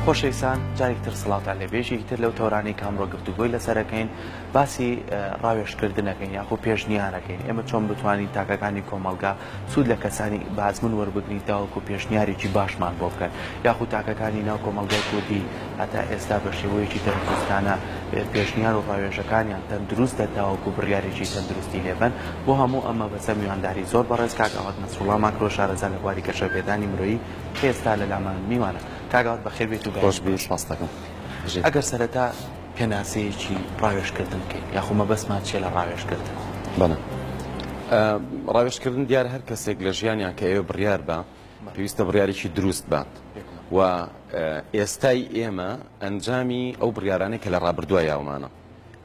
خۆشەویستان جارێکی تر سڵاوتان لێ بێژی تر لەو تۆرانەی کە ئەمڕۆ گفتوگۆی لەسەرەکەین باسی ڕاوێژکردنەکەین یاخۆ پێشنیارەکەین ئێمە چۆن بتوانین تاکەکانی کۆمەلگا سوود لە کەسانی بازمن وەربگرین تاوەکو پێشنیارێکی باشمان بۆ بکەن یاخود تاکەکانی ناو کۆمەلگای کوردی هەتا ئێستا بە شێوەیەکی تەندروستانە پێشنیار و ڕاوێژەکانیان تەندروستە تاوەکو بڕیارێکی تەندروستی لێبن بۆ هەموو ئەمە بەسە میوانداری زۆر بەڕێز کاک ئاوات نەسوڵا ماکرۆ شارەزا لە بواری گەشەپێدانی مرۆیی ئێستا لە لامان میوانە کاک ئاوات بەخێر بێیت و بەهێز باشیت. ئەگەر سەرەتا پێناسەیەکی ڕاوێژکردن بکەین یاخۆ مەبەستمان چیە لە ڕاوێژکردن؟ بەڵێ ڕاوێژکردن دیارە هەر کەسێک لە ژیانیان کە ئێوە بڕیار بە پێویستە بڕیارێکی دروست بات و ئێستای ئێمە ئەنجامی ئەو بڕیارانەی کە لە ڕابردووە یاومانە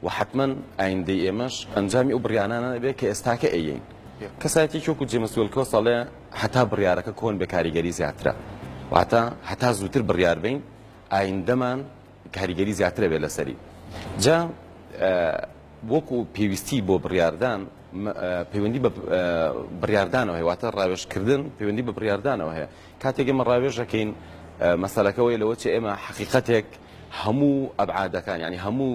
و حتمما ئایندەی ئێمەش ئەنجامی ئەو بڕیانانە بێت کە ئێستاکە ئەیین کەسایەتێکی وەکو جێمس وێلکۆ ساڵێ هەتا بڕیارەکە کۆن بێ کاریگەری زیاترە واتە هەتا زووتر بڕیار بین ئایندەمان کاریگەری زیاترە بێ لەسەری جا وەکو پێویستی بۆ بڕاردان پەیوەندی بە بڕاردانەوە هەیە واتە ڕاوێشکردن پەیوەندی بە بڕاردانەوە هەیە کاتێک ئێمە ڕاوێژەکەین مەسەلەکەەوەی لەوە چ ئێمە حقیقەتێک هەموو ئەبعادەکان یانی هەموو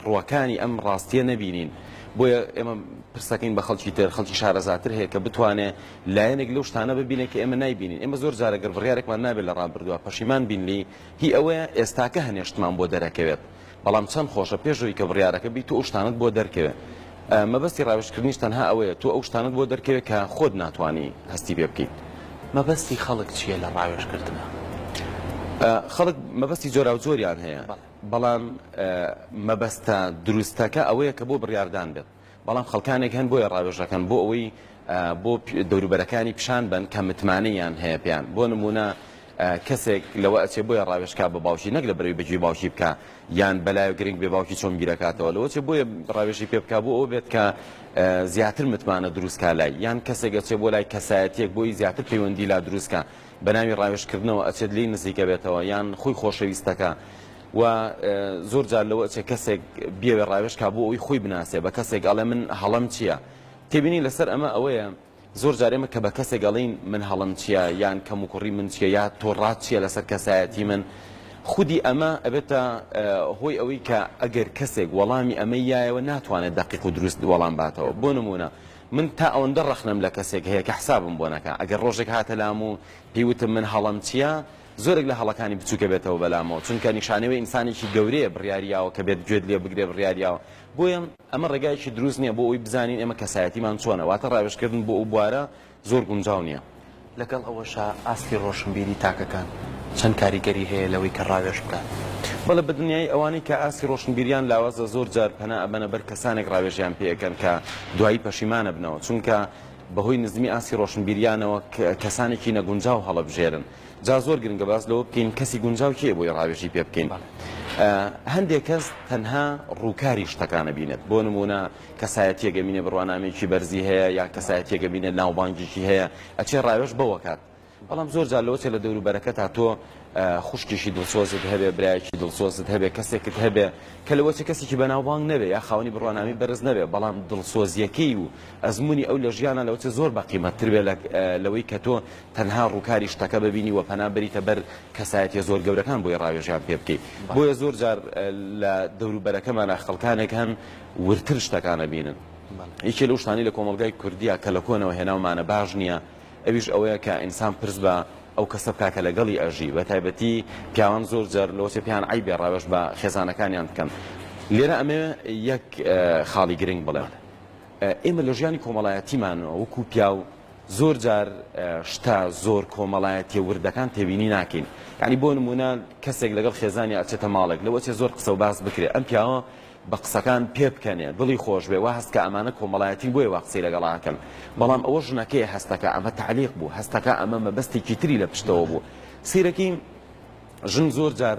ڕووەکانی ئەم ڕاستیە نەبینین بۆیە ئێمە پرسەکەین بە خەڵکی تر خەڵکی شارەزاتر هەیە کە بتوانێت لایەنێک لەو شتانە ببینێت کە ئێمە نایبینین ئێمە زۆر جارەگەر بڕارێکمان نابێت لە ڕابردووە پەشیمان بینلی هی ئەوەیە ئێستاکە هەنێشتمان بۆ دەرەکەوێت بەڵام چەند خۆشە پێشەوەی کە بڕارەکە بیت و شتانت بۆ دەرکەوێت مەبەستی ڕاوێژکردنیش تەنها ئەوەیە تۆ ئەو شتانەت بۆ دەرکەوێت کە خۆت ناتوانی هەستی پێ بکەیت. مەبەستی خەڵک چییە لە ڕاوێژکردنا؟ خەڵک مەبەستی جۆراوجۆریان هەیە، بەڵام مەبەستە دروستەکە ئەوەیە کە بۆ بڕیاردان بێت، بەڵام خەڵکانێک هەن بۆیە ڕاوێژ ئەکەن بۆ ئەوەی بۆ دەوروبەرەکانی پیشان بەن کە متمانە یان هەیە پێیان بۆ نمونە کەسێک لەوە ئەچێ بۆیە ڕاوێشکا بە باوکی نەک لە بەرەوی بەجی باوکی بکە یان بەلایە گرنگ بێ باوکی چۆن بیرەکاتەوە لەوە چێ بۆیە ڕاوێژی پێ بک بۆ ئەو بێت کە زیاتر متمانە دروستکە لای یان کەسێکە چێ بۆ لای کەسایەتێک بۆی زیاتر پەیوەندی لا دروستکە بە ناوی ڕاوێشکردنەوە ئەچێت لی نزیکە بێتەوە یان خۆی خۆشەویستەکە و زۆر جار لەوە چێ کەسێک بێوێ ڕاوێشکا بۆ ئەوی خۆی بناسێ بە کەسێک ئەڵێ من هەڵم چییە؟ تێبینی لەسەر ئەمە ئەوەیە زۆر جار ئێمە کە بە کەسێک ئەڵێین من هەڵەم چیە یان کەموکوڕی من چیە یا تۆ ڕات چیە لەسەر کەسایەتی من خودی ئەمە ئەبێتە هۆی ئەوەی کە ئەگەر کەسێک وەڵامی ئەمە یایەوە ناتوانێت دەقیق و دروست وەڵام باتەوە بۆ نمونە من تا ئەوەندە ڕەخنەم لە کەسێک هەیە کە حسابم بۆ نەکە ئەگەر ڕۆژێک هاتە لام و پێیوتم من هەڵەم چییە زۆرێک لە هەڵەکانی بچووکە بێتەوە بەلامەوە چونکە نیشانەوەی ئینسانێکی گەورەیە بڕیاریاوە کە بێت گوێت لێ بگرێ بڕیاریاوە بۆیە ئەمە ڕێگایەکی دروست نییە بۆ ئەوەی بزانین ئێمە کەسایەتیمان چۆنە، واتە ڕاوێژکردن بۆ ئەو بوارە زۆر گونجاو نییە. لەگەڵ ئەوەشا ئاستی ڕۆشنبیری تاکەکان چەند کاریگەری هەیە لەوەی کە ڕاوێژ بکات. بەڵێ بە دنیایی ئەوانەی کە ئاستی ڕۆشنبیریان لاوازە زۆر جار پەنا ئەبەنە بەر کەسانێک ڕاوێژیان پێ ئەکەن کە دوایی پەشیمان ئەبنەوە چونکە بەهۆی نزمی ئاستی ڕۆشنبیریانەوە کەسانێکی نەگونجاو هەڵەبژێرن. جا زۆر گرنگە باس لەوە بکەین کەسی گونجاو کێ بۆی ڕاوێژی پێ بکەین هەندێک کەس تەنها ڕووکاری شتەکانە بینێت بۆ نمونە کەسایەتیەگە بینێ بڕوانامێکی بەرزی هەیە یا کەسایەتیەگە بینێت ناوبانگیکی هەیە ئەچێ ڕاوێش بەوەکات بەڵام زۆر جار لەوەچێ لە دەور بەرەکە تا تۆ خوشکیشی دڵسۆزت هەبێ برایکی دڵسۆزت هەبێ کەسێکت هەبێ کە لەوەچە کەسێکی بەناوبانگ نەبێ یا خاونی بڕوانامی بەرز نەبێ بەڵام دڵسۆزیەکەی و ئەزمموی ئەو لە ژیانە لەوچە زۆر بەقیمەتتر بێ لەوەی کە تۆ تەنها ڕووکاری شتەکە ببینی و پەنا بەریتە بەر کەسایەتیە زۆر گەورەکان بۆی ڕاوێژیان پێ بکەی بۆیە زۆر جار لە دەوروبەرەکەمانا خەڵکانێک هەن وردتر شتەکان ئەبینن یەکێ لەو شتانەی لە کۆمەڵگای کوردیا کە لە کۆنەوە هێناومانە باش نییە ئەویش ئەوەیە کە ئینسان پرس بە ئەو کەسە بکا کە لەگەڵی ئەژی بە تایبەتی پیاوان زۆر جار لەوەچێ پێیان عەیبێ ڕاوێژ بە خێزانەکانیان بکەن لێرە ئەمەوێ یەک خاڵی گرنگ بڵێم. ئێمە لە ژیانی کۆمەڵایەتیمانەوە وەکوو پیاو زۆر جار شتە زۆر کۆمەڵایەتیە وردەکان تێبینی ناکەین یعنی بۆ نمونە کەسێک لەگەڵ خێزانی ئەچێتە ماڵێک لەوە چێ زۆر قسە و باس بکرێت ئەم پیاوە بە قسەکان پێ بکەنێ دڵی خۆش بێ وا هەستکە ئەمانە کۆمەڵایەتی بۆیە وا قسەی لەگەڵاکەن بەڵام ئەوە ژنەکەی هەستەکە ئەمە تعلیق بوو هەستەکە ئەمە مەبەستێکی تری لە پشتەوە بوو سیرەکەی ژن زۆر جار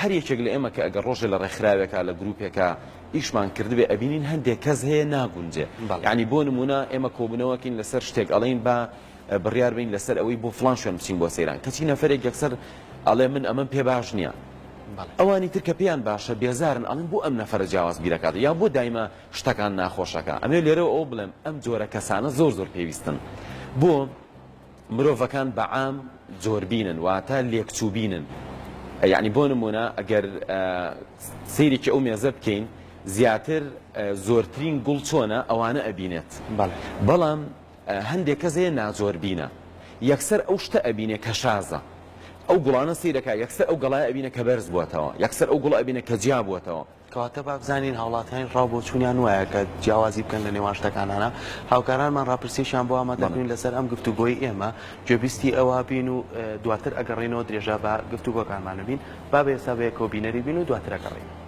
هەر یەکێک لە ئێمە کە ئەگەر ڕۆژێ لە ڕێکخراوێکا لە گروپێکا ئیشمان کردبێ ئەبینین هەندێک کەس هەیە ناگونجێ یانی بۆ نمونە ئێمە کۆبنەوەکەین لەسەر شتێک ئەڵێین با بڕیار بین لەسەر ئەوەی بۆ فلان شوێن بچین بۆ سەیران کەچی نەفرێک یەکسەر ئەڵێ من ئەمەم پێ باش نییە ئەوانی تر کە پێیان باشە بێزارن ئەڵێن بۆ ئەم نەفرە جیاواز بیرەکات یا بۆ دایمە شتەکان ناخۆشەکە ئەمێ لێرەوە ئەو بڵێم ئەم جۆرە کەسانە زۆر زۆر پێویستن بۆ مرۆڤەکان بە عام زۆربینن واتە لێکچووبینن یەعنی بۆ نموونە ئەگەر سەیرێکی ئەو مێزە بکەین زیاتر زۆرترین گوڵ چۆنە ئەوانە ئەبینێت بەڵام هەندێک کەس هەیە نازۆربینە یەکسەر ئەو شتە ئەبینێ کە شازە ئەو گوڵانە سیرەکە یەکسەر ئەو گەڵای ئەبینە کە بەرز بووتەوە یەکسەر ئەو گوڵ ئەبینە کە جیا بووتەوە کەواتە با بزانین هاوڵاتیان ڕاو بۆچوونیان وایە کە جیاوازی بکەن لە نێوان شتەکانانا هاوکارانمان ڕاپرسیەکیان بۆ ئامادە کردوین لەسەر ئەم گفتوگۆی ئێمە گوێبیستی ئەوا بین و دواتر ئەگەڕێینەوە درێژە بە گفتوگۆکانمان ئەبین با بەێستا بەیەکەوە بینەری بین و دواتر ئەگەڕێین.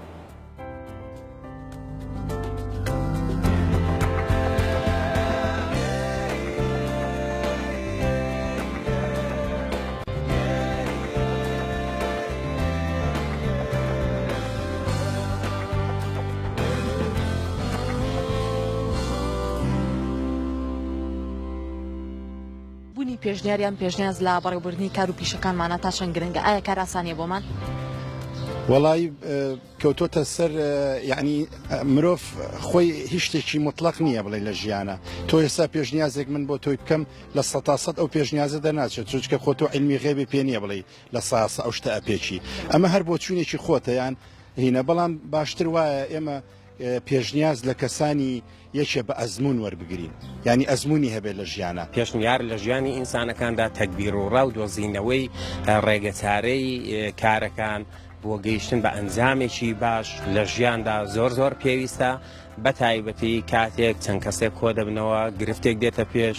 بونی پێشنیار یان پێشنیاز لە بەڕێوبردنی کار و پیشەکانمانە تا چەند گرنگە ئایا کار ئاسانیە بۆمان؟ وەڵایی کەوتۆتە سەر یعنی مرۆڤ خۆی هیچ شتێکی مطلق نییە بڵێ لە ژیانە تۆ ئێستا پێشنیازێک من بۆ تۆی بکەم لە سە تا سەد ئەو پێشنیازە دەناچێت چونچکە خۆ تۆ علمی غێبی پێ نییە بڵێ لە ساسە ئەو شتە ئەپێکی ئەمە هەر بۆ چوونێکی خۆتەیان هینە بەڵام باشتر وایە ئێمە پێشنیاز لە کەسانی یەکێ بە ئەزموون وەربگرین یانی ئەزموونی هەبێت لە ژیانا. پێشنیار لە ژیانی ئینسانەکاندا تەگبیر و ڕا و دۆزینەوەی ڕێگەچارەی کارەکان بۆ گەیشتن بە ئەنجامێکی باش لە ژیاندا زۆر زۆر پێویستە بە تایبەتی کاتێک چەند کەسێک کۆ دەبنەوە گرفتێک دێتە پێش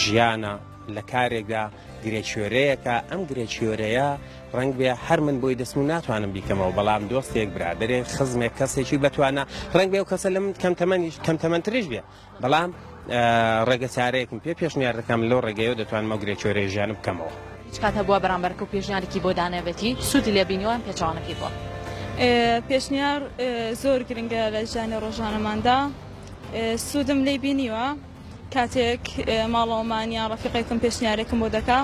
ژیانە لە کارێکدا گرێکوێرەیەکە ئەم گرێکوێرەیە ڕەنگ بێ هەر من بۆی دەستم و ناتوانم بیکەمەوە بەڵام دۆستێک برادێک خزمێک کەسێکی بتوانە ڕنگ بێ و کەسە لە من کەم تەمەنیش کەم تەمەندترش بێ بەڵام ڕێگە چارەیەکم پێ پێشنیار دەکەم لەو ڕێگەیە دەتوانمە گرێکوێرە ژیان بکەمەوە کات هەبووە بەرامبەرکە و پێشنیارێکی بۆ دانەبێتی سوودی لێ بینیوان پێچوانەکەی بووە پێشنیار زۆر گرنگە لە ژیانی ڕۆژانەماندا سوودم لی بینیوە کاتێک ماڵەوەمان یان ڕەفیقێکم پێشنیارێکم بۆ دەکا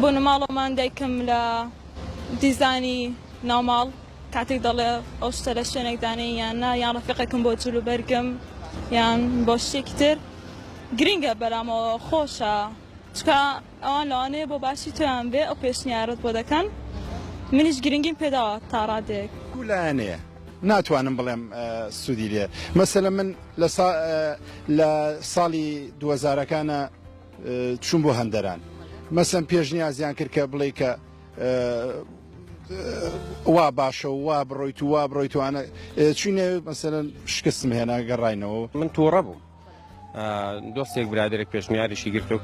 بۆنە ماڵەوەمان دایکم لە دیزانی ناوماڵ کاتێک دەڵێ ئەو شتە لە شوێنێک دانێ یان نا یان ڕەفیقێکم بۆ جلو بەرگم یان بۆ شتێکی تر گرنگە بەرامەوە خۆشە چکە ئەوان لەوانەیە بۆ باشی تۆیان بێ ئەو پێشنیارەت بۆ دەکەن منیش گرنگیم پێداوە تا ڕادەیەک. دوو لایەنەیە ناتوانم بڵێم سودی لێ مەسەلەن من لە سا لە ساڵی دوەزارەکانا چوم بۆ هەندەران مەسەن پێشنیازیان کرد کە بڵێی کە وا باشە و وا بڕۆیت و وا بڕۆیت وانە چوینە مەسەلەن شکستم هێنا گەڕاینەوە. من توڕە بووم دۆستێک برادێک پێشنیارشی گرتۆک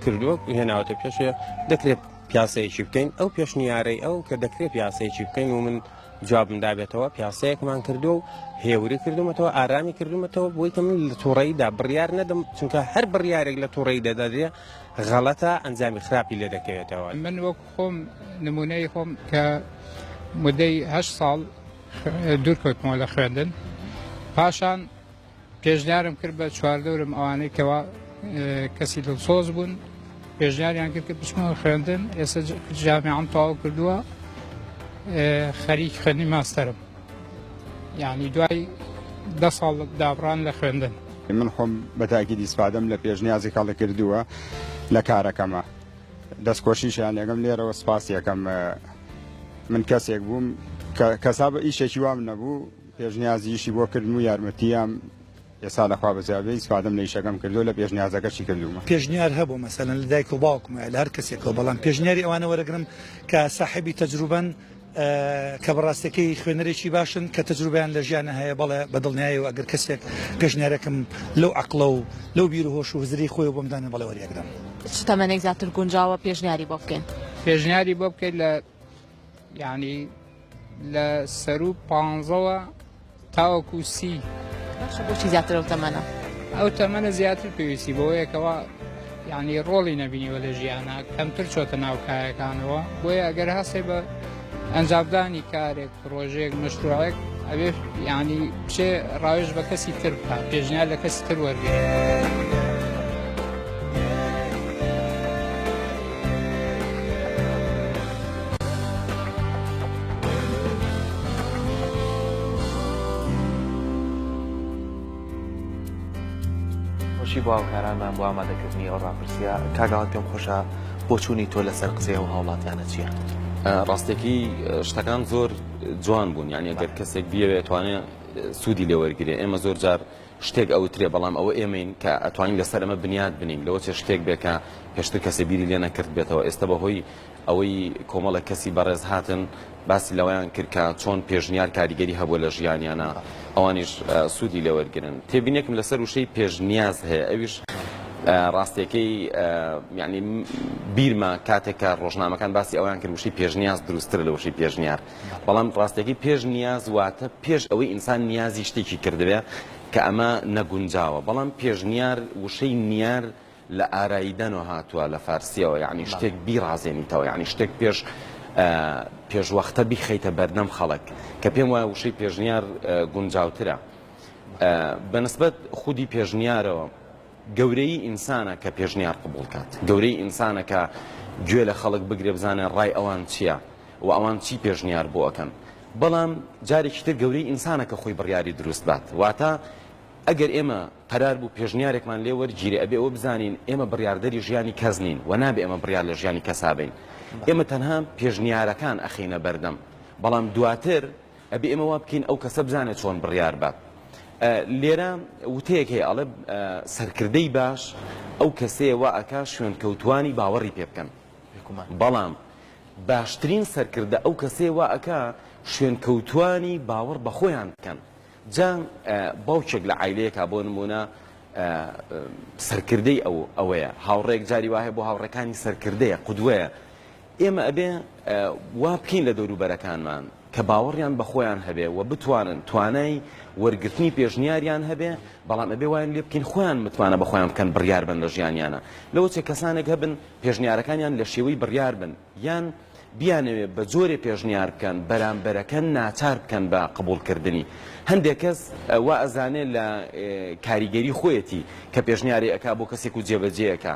کردووە هێناوەتە پێشێ دەکرێت پیاسەیەکی بکەین ئەو پێشنیارەی ئەو کە دەکرێت پیاسەیەکی بکەین و من جوابم دابێتەوە پیاسەیەکمان کردو و هێوری کردومەتەوە ئارامی کردومەتەوە بۆی کە من لە تووڕیدا بڕیار نەدەم چونکە هەر بڕیارێک لە تووڕی دەدەێ غەڵەتە ئەنجامی خراپی لێ دەکەوێتەوە من وەک خۆم نمونەی خۆم کە مدەیه ساڵ دوورکەوتمەوە لە خوێندن پاشان پێشنیارم کرد بە چواردەورم ئەوانەی کەوا کەسی دڵسۆز بوون پێشنیاریان کرد کە بچمەوە خوێندن ئێستا جامیان تەواو کردووە خەریک خوێنی ماستەرم یعنی دوای دە ساڵ دابڕان لە خوێندن من خۆم بەتاکی دیسپادەم لە پێشنیازی کاڵە کردووە لە کارەکەمە دەستکۆشیشیان لەگەم لێرەوە سپاس یەکەم من کەسێک بووم کەسا بە ئیشێکی وام نەبوو پێشنیازی ئیشی بۆ کردم و یارمەتییام ئێستا لە خوا بەجێ ئەبێ، ئیسفادەم لە ئیشەکەم کردووە، لە پێشنیازەکەشی کردوومە. پێشنیار هەبوو مەسەلەن لە دایک و باوکمە یا لە هەر کەسێکەوە، بەڵام پێشنیاری ئەوانە وەرەگرم کە ساحێبی تەجروبەن، کە بە ڕاستێکەی خوێنەرێکی باشن، کە تەجروبەیان لە ژیانا هەیە، بەڵێ بە دڵنیایەوە ئەگەر کەسێک پێشنیارەکەم لەو عەقڵە و لەو بیر و هۆش و هزرەی خۆیەوە بۆم دانێ بەڵێ وەریئەگرم. چ تەمەنێک زیاتر گونجاوە پێشنیاری بۆ بکەین؟ پێشنیاری بۆ بکەین لە یانی. لە سەرو پانزەوە تاوەکو سی. باشە بۆچی زیاتر ئەو تەمەنە؟ ئەو تەمەنە زیاتر پێویستی بەوەیە کەوا یعنی ڕۆڵی نەبینیوە لە ژیانا کەمتر چۆتە ناو کایەکانەوە بۆیە ئەگەر هەستێ بە ئەنجامدانی کارێک پرۆژێک مەشروعێک ئەبێ یعنی بچێ ڕاوێژ بە کەسی تر بکە پێشنیار لە کەسی تر وەرگێ. خۆشی بۆ هاوکارانمان بۆ ئامادەکردنی ئەو ڕاپرسیە کاگاڵت پێم خۆشە بۆ چوونی تۆ لەسەر قسەی ئەو هاوڵاتیانە چیە؟ ڕاستەکی شتەکان زۆر جوان بوون یعنی گەر کەسێک بیەوێت توانێت سوودی لێ وەرگێ ئێمە زۆر جار شتێک ئەوترێ بەڵام ئەوە ئێمەین کە ئەتوانین لەسەر ئەمە بنیات بنین لەوە چێ شتێک بێ کە پێشتر کەسێ بیری لێ نەکردبێتەوە ئێستە بە هۆی ئەوەی کۆمەڵێک کەسی بەڕێز هاتن باسی لەوەیان کرد کە چۆن پێشنیار کاریگەری هەبووە لە ژیانیانە ئەوانیش سوودی لێوەرگرن تێبینێکم لەسەر وشەی پێشنیاز هەیە ئەویش ڕاستیەکەی یعنی بیرمە کاتێک کە ڕۆژنامەکان باسی ئەویان کرد وشەی پێشنیاز دروستتر لە وشەی پێشنیار بەڵام ڕاستەکەی پێش نیاز واتە پێش ئەوەی ئینسان نیازی شتێکی کردبێ کە ئەمە نەگونجاوە بەڵام پێشنیار وشەی نیار لە ئاراییدەنەوە هاتووە لە فارسیەوە یعنی شتێک بیڕازێنیتەوە یعنی شتێک پێش پێشوەختە بیخەیتە بەردەم خەڵک کە پێم وایە وشەی پێشنیار گونجاوترە بەنسبەت خودی پێشنیارەوە گەورەیی ئینسانە کە پێشنیار قبوڵ کات، گەورەیی ئینسانە کە گوێ لە خەڵک بگرێ بزانێ ڕای ئەوان چییە و ئەوان چی پێشنیار بۆ ئەکەن. بەڵام جارێکی تر گەورەیی ئینسانە کە خۆی بڕیاری دروست بات. واتە ئەگەر ئێمە قەرار بوو پێشنیارێکمان لێ وەرگیرێ ئەبێ ئەوە بزانین ئێمە بڕیاردەری ژیانی کەس نین و نابێ ئێمە بڕیار لە ژیانی کەسا بەین. ئێمە تەنها پێشنیارەکان ئەخەینە بەردەم بەڵام دواتر ئەبێ ئێمە وا بکەین ئەو کەسە بزانێت چۆن بڕیار بات. لێرە وتەیەک هەیە ئەڵێ سەرکردەی باش ئەو کەسەیە وا ئەکا شوێنکەوتوانی باوەڕی پێ بکەن بەڵام باشترین سەرکردە ئەو کەسەیە وا ئەکا شوێنکەوتوانی باوەڕ بە خۆیان بکەن جا باوکێک لە عیلەیەکە بۆ نمونە سەرکردەی ئەو ئەوەیە هاوڕێک جاری وایە بۆ هاوڕەکانی سەرکردەیە قودوەیە ئێمە ئەبێ وا بکەین لە دەوروبەرەکانمان کە باوەڕیان بە خۆیان هەبێ و بتوانن توانای وەرگرتنی پێشنیاریان هەبێ، بەڵام ئەبێ وایان لێ بکەین خۆیان متمانە بە خۆیان بکەن بڕیار بن لە ژیانیانا. لەوە چێ کەسانێک هەبن پێشنیارەکانیان لە شێوەی بڕیار بن یان بیانەوێ بە جۆرێ پێشنیار بکەن بەرامبەرەکە ناچار بکەن بە قبوڵکردنی. هەندێک کەس وا ئەزانێ لە کاریگەری خۆیەتی کە پێشنیارێ ئەکا بۆ کەسێک و جێبەجێ ئەکا.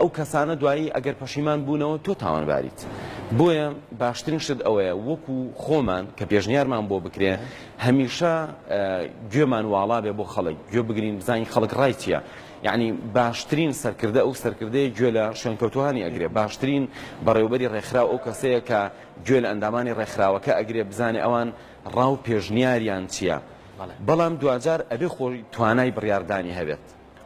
ئەو کەسانە دوایی ئەگەر پەشیمان بوونەوە تۆ تاوانباریت بۆیە باشترین شت ئەوەیە وەکو خۆمان کە پێشنیارمان بۆ بکرێ هەمیشە گوێمان واڵا بێ بۆ خەڵک گوێ بگرین بزانین خەڵک ڕای چییە یعنی باشترین سەرکردە ئەو سەرکردەیە گوێ لە شوێنکەوتوانی ئەگرێ باشترین بەڕێوبەری ڕێکخرا ئەو کەسەیە کە گوێ لە ئەندامانی ڕێکخراوەکە ئەگرێ بزانێ ئەوان ڕاو پێشنیاریان چییە بەڵام دواجار ئەبێ خۆی توانای بڕاردانی هەبێت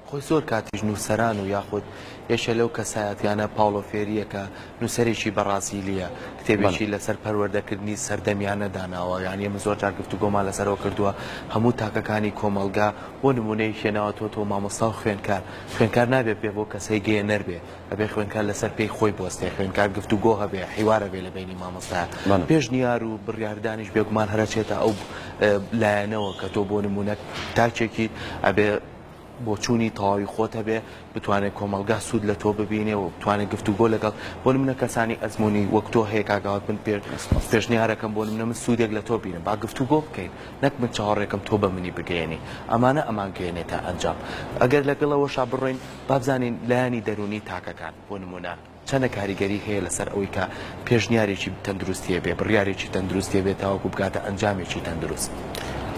خۆی زۆر کاتیش نووسەران و یاخود یەکێ لەو کەسایەتیانە پاوڵۆ فێریرەکە نووسەرێکی بەڕازیلییە بەڵێ کتێبێکی لەسەر پەروەردەکردنی سەردەمیانە داناوە یانی ئێمە زۆر جار گفتوگۆمان لەسەرەوە کردووە هەموو تاکەکانی کۆمەڵگا بۆ نموونەیەکی ناوەتۆتۆ مامۆستا و خوێندکار خوێندکار نابێ بێ بۆ کەسێ گەیەنەر بێ ئەبێ خوێندکار لەسەر پێی خۆی بوەستێ، خوێندکار گفتوگۆ هەبێ، حیوار هەبێ لە بەینی مامۆستا. پێشنیار و بڕیاردانیش بێگومان هەر ئەچێتە ئەو لایەنەوە کە تۆ بۆ نموونە تاکێکیت، ئەبێ بۆچوونی تەواوی خۆت هەبێ، بتوانێ کۆمەڵگا سوود لە تۆ ببینێ و بتوانێ گفتوگۆ لەگەڵ بۆ نموونە کەسانی ئەزموونی وەک تۆ هەیە کاک ئاوات، من پێشنیارەکەم بۆ نموونە من سوودێک لە تۆ بینم، با گفتوگۆ بکەین، نەک من چاوەڕێکەم تۆ بە منی بگەیەنی، ئەمانە ئەمانگەیەنێتە ئەنجام. ئەگەر لەگەڵ ئەوەشا بڕۆین. با بزانین لایەنی دەروونی تاکەکان، بۆ نموونە، چەندە کاریگەری هەیە لەسەر ئەوەی کە پێشنیارێکی تەندروستی هەبێت، بڕیارێکی تەندروستی هەبێت تاوەکو بگاتە ئەنجامێکی تەندروست.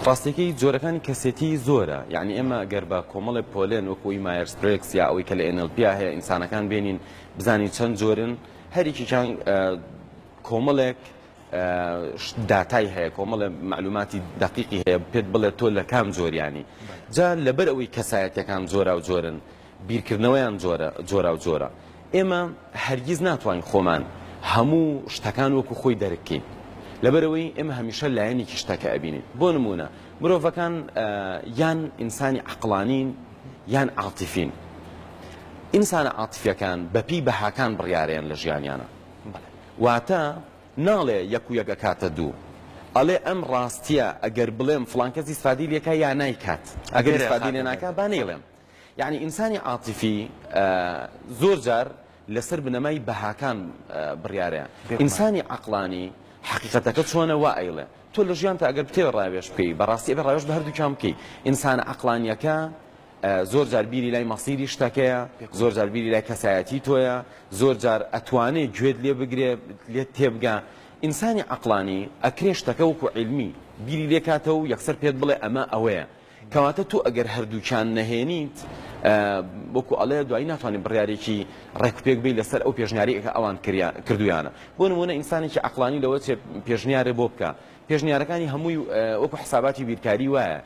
ڕاستییەکەی، جۆرەکانی کەسێتیی زۆرە، یانی ئێمە گەر بە کۆمەڵێ پۆلێن وەکو ئەوی مایەرز برێگز یا ئەوەی کە لە ئێن ئێل پیا هەیە ئینسانەکان بێنین بزانین چەند جۆرن، هەر یەکێکیان کۆمەڵێک داتای هەیە کۆمەڵێ معلوماتی دقیقی هەیە پێت بڵێت تۆ لە کام جۆریانی جا لەبەر ئەوەی کەسایەتەکان جۆرا و جۆرن بیرکردنەوەیان جۆرە جۆرا و جۆرە ئێمە هەرگیز ناتوانین خۆمان هەموو شتەکان وەکو خۆی دەرکەین لەبەرەوەی ئێمە هەمیشە لایەنێکی شتەکە ئەبینین بۆ نمونە مرۆڤەکان یان ئینسانی عقلانین یان عاتیفین ئینسانە عاتفیەکان بەپی بەهاکان بڕیارەیان لە ژیانیانە واتە، ناڵێ یەک و یەک ئەکاتە دوو، ئەڵێ ئەم ڕاستیە ئەگەر بڵێم فڵان کەس ئیسفادەی لێکا یا نایکات، ئەگەر ئیسفادەی لێ ناکا با نەیڵێم. یەعنی ئینسانی عاتیفی زۆر جار لەسەر بنەمای بەهاکان بڕیارە، ئینسانی عەقڵانی حەقیقەتەکە چۆنە وا ئەیڵێ. تۆ لە ژیانتا ئەگەر بتەوێ ڕاوێژ بکەی، بەڕاستی ئەبێ ڕاوێژ بە هەردووکیان بکەی. ئینسانە عەقڵانیەکە زۆر جار بیری لای مەسیری شتەکەیە، زۆر جار بیری لای کەسایەتی تۆیە، زۆر جار ئەتوانێ گوێت لێ بگرێ لێت تێبگا. ئینسانی عەقڵانی ئەکرێ شتەکە وەکو عیلمی بیری لێ کاتەوە و یەکسەر پێت بڵێ ئەمە ئەوەیە. کەواتە تۆ ئەگەر هەردووکیان نەهێنیت، وەکو ئەڵێ دوایی ناتوانێت بڕیارێکی ڕێکوپێک بی لەسەر ئەو پێشنیارەی کە ئەوان کردویانە. بۆ نموونە ئینسانێکی عەقڵانی لەوە چێ پێشنیارێ بۆ بکا، پێشنیارەکانی هەمووی وەکو حساباتی بیرکاری وایە،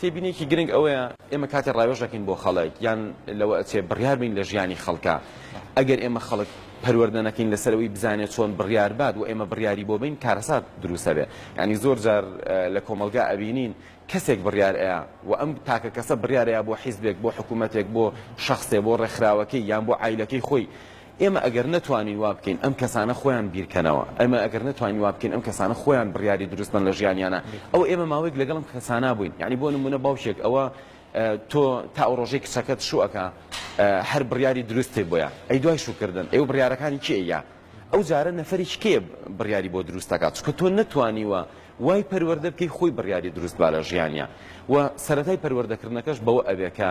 تێبینیەکی گرنگ ئەوەیە ئێمە کاتێ ڕاوێژ دەکەین بۆ خەڵک یان لەوە ئەچێ بڕیار بین لە ژیانی خەڵکە ئەگەر ئێمە خەڵک پەروەردە نەکەین لەسەرەوەی بزانێت چۆن بڕیار بات و ئێمە بڕیاری بۆ بین کارەسات دروستە بێ ینی زۆر جار لە کۆمەلگا ئەبینین کەسێک بڕیار ئەیە و ئەم تاکە کەسە بڕیارەیە بۆ حیزبێک بۆ حکوومەتێک بۆ شخصێ بۆ ڕێکخراوەکەی یان بۆ عیلەکەی خۆی ئێمە ئەگەر نەتوانین وا بکەین ئەم کەسانە خۆیان بیرکەنەوە، ئێمە ئەگەر نەتوانین وا بکەین ئەم کەسانە خۆیان بڕیاری دروست بەن لە ژیانیانا، ئەوە ئێمە ماوەیەک لەگەڵ ئەم کەسانا بووین، یانی بۆ نموونە باوکێک ئەوە تۆ تا ئەو ڕۆژەی کچەکەت شوو ئەکا هەر بڕیاری دروستت بۆیە، ئەی دوای شوو کردن ئەی و بڕیارەکانی کێ یا ئەو جارە نەفەرێکی کێ بڕیاری بۆ دروست ئەکا، چونکە تۆ نەتوانیوە وای پەروەردە بکەی خۆی بڕیاری دروست با لە ژیانیا و سەرەتای پەروەردەکردنەکەش بەوە ئەبێ کە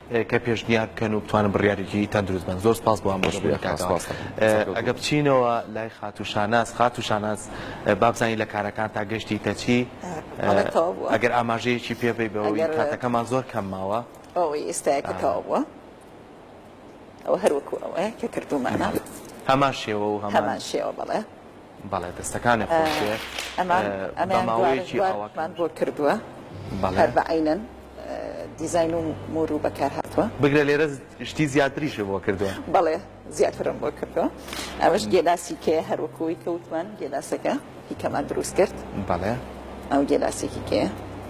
کە پێشنیار بکەن و بتوانن بڕیارێکی تەندروست بەن زۆر سپاس بۆ ئاماژە بوونە کاکە ئەگە بچینەوە لای خاتو شاناز خاتو شاناز بابزانین لە کارەکان تا گەشتی تەچی ئەگەر ئاماژەیەکی پێبی بەوەی کاتەکەمان زۆر کەم ماوە ئەوەی ئێستایەکە تەوا بووە ئەو هەروەکو ئەوەیە کە کردومانە هەمان شێوە و هەمان شێوە بڵێ بەڵێ دەستەکانت خۆشبێ بە ماوەیەکی ئاوا. بگرە لێرە شتی زیاتریشت بۆ کردووە.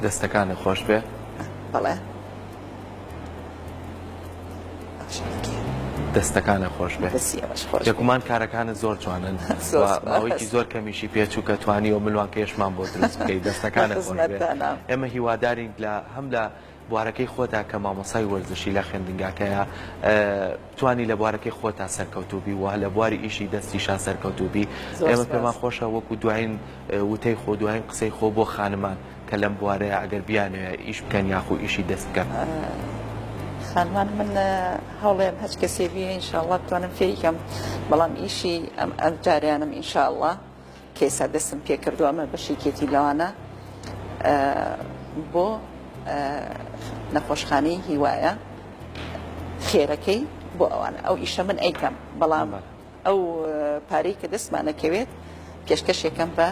دەستەکانت خۆشبێ. دەستەکانە خۆش بێت یەکومان کارەکانت زۆر جوانن ماوەیەکی زۆر کەمیشی پێچووکە توانی و ملوانکەشمان بۆ دروست بکەی دەستەکانە ئێمە هیوادارین لە هەم لە بوارەکەی خۆتا کە مامۆسای وەرزشی لە خوێندنگاکەیە توانی لە بوارەکەی خۆتا سەرکەوتوبی و لە بواری ئیشی دەستی شا سەرکەوتوبی ئێمە پێمان خۆشە وەکو دوایین وتەی خۆ دوایین قسەی خۆ بۆ خانمان کە لەم بوارەیە ئەگەر بیانەوێت ئیش بکەن یاخو ئیشی دەست بکەن؟ خانمان من هەوڵێم هەچ کەسێ بێ ئینشاءڵڵا بتوانم فێیکەم بەڵام ئیشی ئەم ئەم جاریانم ئینشاءڵڵا کەیسا دەستم پێ کردو ئەمە بەشێکێتی لەوانە بۆ نەخۆشخانەی هیوایە خێرەکەی بۆ ئەوانە ئەو ئیشە من ئەیکەم بەڵام ئەو پارەی کە دەستمان ئەکەوێت پێشکەش یەکەم بە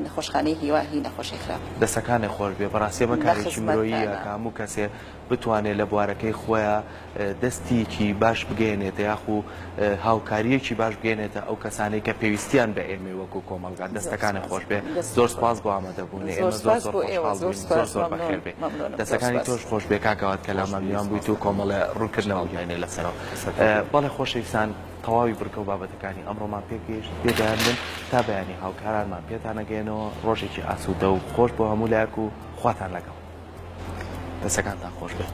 نەخۆشخانەی هیوا هی نەخۆشی خراپ. دەستەکانت خۆش بێ بەڕاستی ئەمە کارێکی مرۆییە کە هەموو کەسێ بتوانێ لە بوارەکەی خۆیا دەستیکی باش بگەیەنێتە یاخو هاوکاریەکی باش بگەێنێتە ئەو کەسانەی کە پێویستیان بە ئێمەی وەکو کۆمەڵگا دەستەکانت خۆش بێ زۆر سپاس بۆ ئامادەبوونی ئێمە زۆر زۆر خۆشحاڵ بووین زۆر زۆر بەخێر بێ دەستەکانی تۆش خۆش بێ کاکەوات کە لامان میوان بوویت و کۆمەڵە ڕوونکردنەوە بینێ لەسەرەوە بەڵێ خۆشەویستان تەواوی بڕگە و بابەتەکانی ئەمڕۆمان پێگەیشت پێگەیان بن تا بەیانی هاوکارانمان پێتان ئەگەیەنەوە ڕۆژێکی ئاسوودە و خۆش بۆ هەموو لایەک و خواتان لەگەڵ دەسەکانتان خۆش بێت.